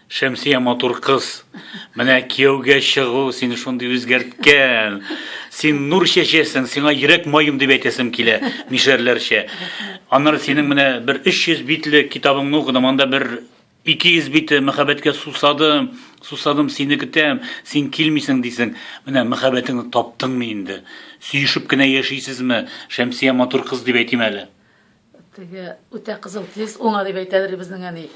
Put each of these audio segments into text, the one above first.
Шәмсия матур кыз. Менә кияүгә чыгу син шундый үзгәрткән. Син нур чәчәсең, сиңа йөрәк маем дип әйтәсем килә, мишәрләрчә. Аннары синең менә бер 300 битле китабыңны укыдым, анда бер Ике йөз бите мәхәббәткә сусадым, сусадым, сине көтәм, син килмисең дисең. Менә мәхәббәтеңне таптыңмы инде? Сөешеп кенә яшисезме? Шәмсия матур кыз дип әйтим әле. Теге үтә кызыл тиз уңа дип әйтәдер безнең әни.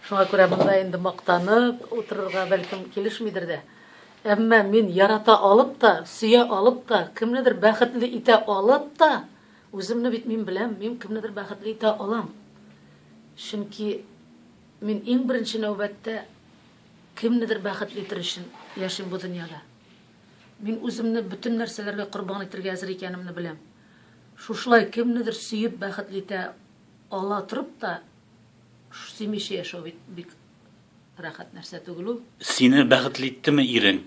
Шуңа күрә монда инде мактанып утырырга бәлкем килешмидер дә. Әмма мин ярата алып та, сөя алып та, кемнедер бәхетле итә алып та, Үземне бит мин беләм, мин кемнедер бәхетле итә алам. Чөнки мин иң беренче нәүбәттә кемнедер бәхетле итер өчен яшим бу дөньяда. Мин үземне бөтен нәрсәләргә корбан итергә әзер икәнемне беләм. Шушылай кемнедер сөеп бәхетле итә ала торып та, сөймичә яшәү бит бик рәхәт нәрсә түгел ул. Сине бәхетле иттеме ирең?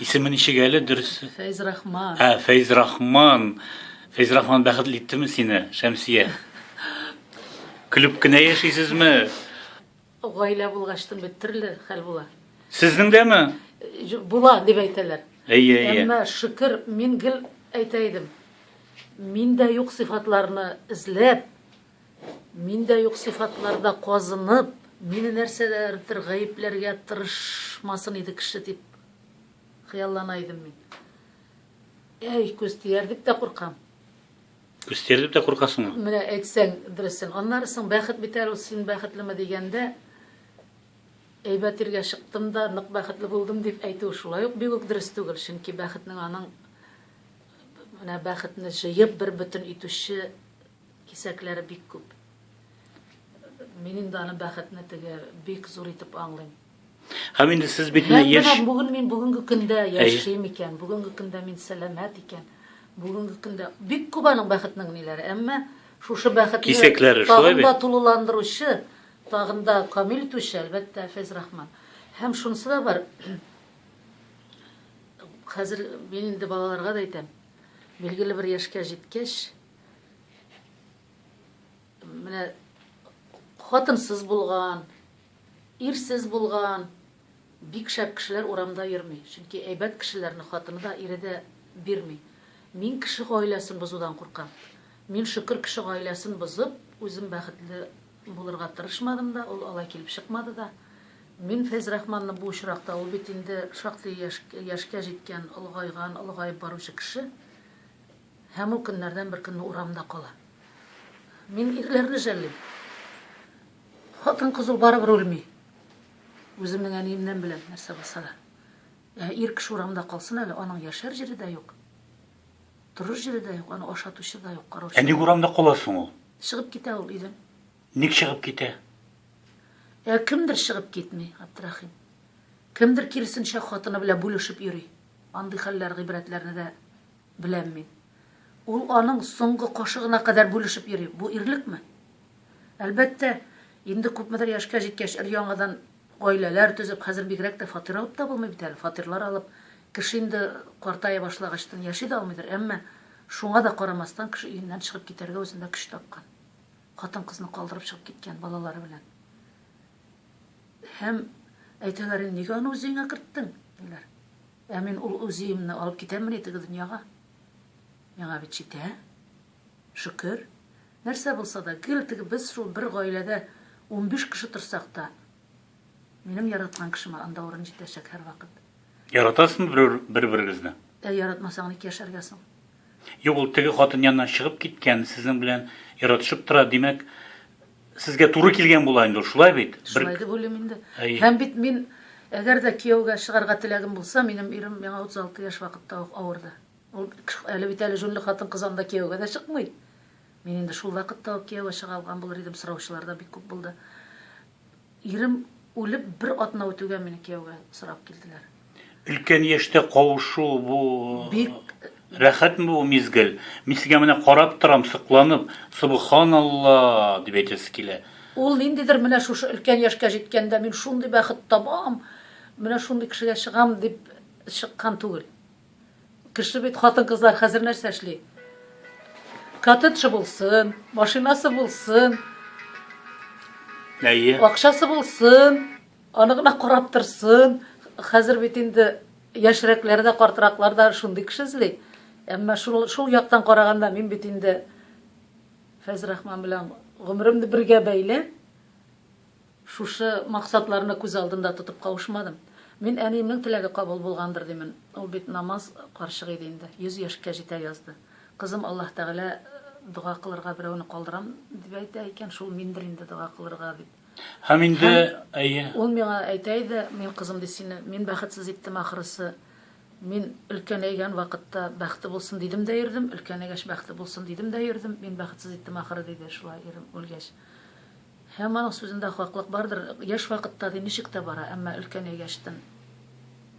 Исеме ничек әле дөресе? Фәйзрахман. Ә, Фәйзрахман. Фәйзрахман бәхетле иттеме сине, Шәмсия? Көлеп кенә яшисезме? Гаилә булгачтын бит төрле хәл була. Сезнең дәме? Була дип әйтәләр. Әйе, әйе. Әмма шөкер, мин гел әйтә идем. Миндә юк сыйфатларны эзләп, Мин дә юк сыйфатларда казынып. Мине нәрсәдәдер гаепләргә тырышмасын иде кеше дип хыяллана идем мин. Әй, күз тияр дип тә куркам. Күз тияр дип тә куркасыңмы? Менә әйтсәң дөресен. Аннары соң бәхет бит әле ул, син бәхетлеме дигәндә, әйбәт иргә чыктым да, нык бәхетле булдым дип әйтү шулай ук бигүк дөрес түгел, чөнки бәхетнең аның менә бәхетне җыеп бер бөтен итүче Кисәкләре бик күп. Мин инде аны бәхетне теге бик зур итеп аңлыйм. Һәм инде сез бит менә яшь. Менә бүген мин бүгенге көндә яшим икән, бүгенге көндә мин сәламәт икән. Бүгенге көндә бик күп аның бәхетнең ниләре, әмма шушы бәхетне кисәкләре шулай бит. Тагында тулыландыручы, тагында камил итүче, әлбәттә, Фәйз Рахман. Һәм шунысы да бар. Хәзер мин инде балаларга да әйтәм. Билгеле бер яшькә җиткәч, Менә хатынсыз булган, ирсез булган бик шәп кешеләр урамда йөрми. Чөнки әйбәт кешеләрне хатыны да, ире дә бирми. Мин кеше гаиләсен бозудан куркам. Мин, шөкер, кеше гаиләсен бозып, үзем бәхетле булырга тырышмадым да, ул алай килеп чыкмады да. Мин Фәйзрахманны бу очракта, ул бит инде шактый яшькә җиткән, олыгайган, олыгаеп баручы кеше. Һәм ул көннәрдән бер көнне урамда кала. Мин ирләрне жәллим. Хатын-кыз ул барыбер үлми. Үземнең әниемнән беләм, нәрсә булса да. Ә ир кеше урамда калсын әле, аның яшәр җире дә юк. Торыр җире дә юк, аны ашатучы да юк, караучы. Ә ник урамда кала соң ул? Чыгып китә ул өйдән. Ник чыгып китә? Ә кемдер чыгып китми, Абдрахим. Кемдер киресенчә хатыны белән бүлешеп йөри. Андый хәлләр, гыйбрәтләрне дә Беләм мин. Ул аның соңгы кашыгына кадәр бүлешеп йөри. Бу ирлекме? Әлбәттә, инде күпмедер яшькә җиткәч, өр-яңадан гаиләләр төзеп, хәзер бигрәк тә фатир алып та булмый бит әле, фатирлар алып, кеше инде картая башлагачтын яши дә алмыйдыр, әмма, шуңа да карамастан, кеше өеннән чыгып китәргә үзендә көч тапкан. Хатын-кызны калдырып чыгып киткән, балалары белән. Һәм әйтәләр инде, нигә аны үзеңә керттең? диләр. Ә мин ул УЗИемне алып китәммени теге дөньяга? Миңа бит җитә, шөкер. Нәрсә булса да, гел теге без шул бер гаиләдә унбиш кеше торсак та, минем яраткан кешемә анда урын җитәчәк һәрвакыт. Яратасызмы берәү бер-берегезне? Ә яратмасаң ник яшәргә соң? Юк, ул теге хатын яныннан чыгып киткән, сезнең белән яратышып тора, димәк, Сезгә туры килгән була инде ул, шулай бит? Шулай дип уйлыйм инде. Һәм бит мин, әгәр дә кияүгә чыгарга теләгем булса, минем ирем миңа 36 яшь вакытта ук авырды. Ул әле бит әле җүнле хатын-кыз анда кияүгә дә чыкмый. Мин инде шул вакытта ук кияүгә чыга алган булыр идем, сораучылар да бик күп булды. Ирем үлеп бер атна үтүгә мине кияүгә сорап килделәр. Өлкән яшьтә кавышу бу Бик рәхәтме бу мизгел? Мин сезгә менә карап торам, сокланып, Субханалла дип әйтәсе килә. Ул ниндидер менә шушы өлкән яшькә җиткәндә мин шундый бәхет табам, менә шундый кешегә чыгам дип чыккан түгел. Кеше бит хатын-кызлар хәзер нәрсә эшли? Коттеджы булсын, машинасы булсын, Әйе. акчасы булсын, аны гына карап торсын. Хәзер бит инде яшьрәкләр дә, картыраклар да шундый кеше эзли. Әмма шул, шул яктан караганда мин бит инде Фәзрахман белән гомеремне бергә бәйләп, Шушы максатларны күз алдында тотып кавышмадым. Мин әниемнең теләге кабул булгандыр димен. Ул бит намаз карчык иде инде, йөз яшькә җитә язды. Кызым Аллаһ Тәгалә дога кылырга берәүне калдырам дип әйтә икән, шул миндер инде дога кылырга дип. Һәм инде, әйе. Ул миңа әйтә иде, мин кызым ди сине, мин бәхетсез иттем ахрысы. Мин өлкәнәйгән вакытта бәхте булсын дидем дә йөрдем, өлкәнәйгәч бәхте булсын дидем дә йөрдем, мин бәхетсез иттем ахры, диде шулай ирем үлгәч. Һәм аның сүзендә хаклык бардыр, яшь вакытта ди ничек тә бара, әмма өлкән егәчтен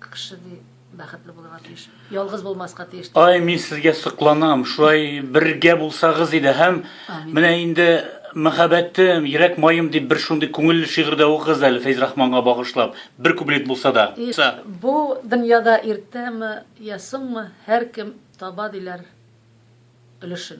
кеше ди бәхетле булырга тиеш, ялгыз булмаска тиеш ди. Ай, мин сезгә сокланам, шулай бергә булсагыз иде һәм Амин. менә инде мәхәббәтем, йөрәк маем дип бер шундый күңелле шигырь дә укыгыз әле Фәйзрахманга багышлап, бер куплет булса да. И, бу дөньяда иртәме, я соңмы, һәркем таба диләр өлешен.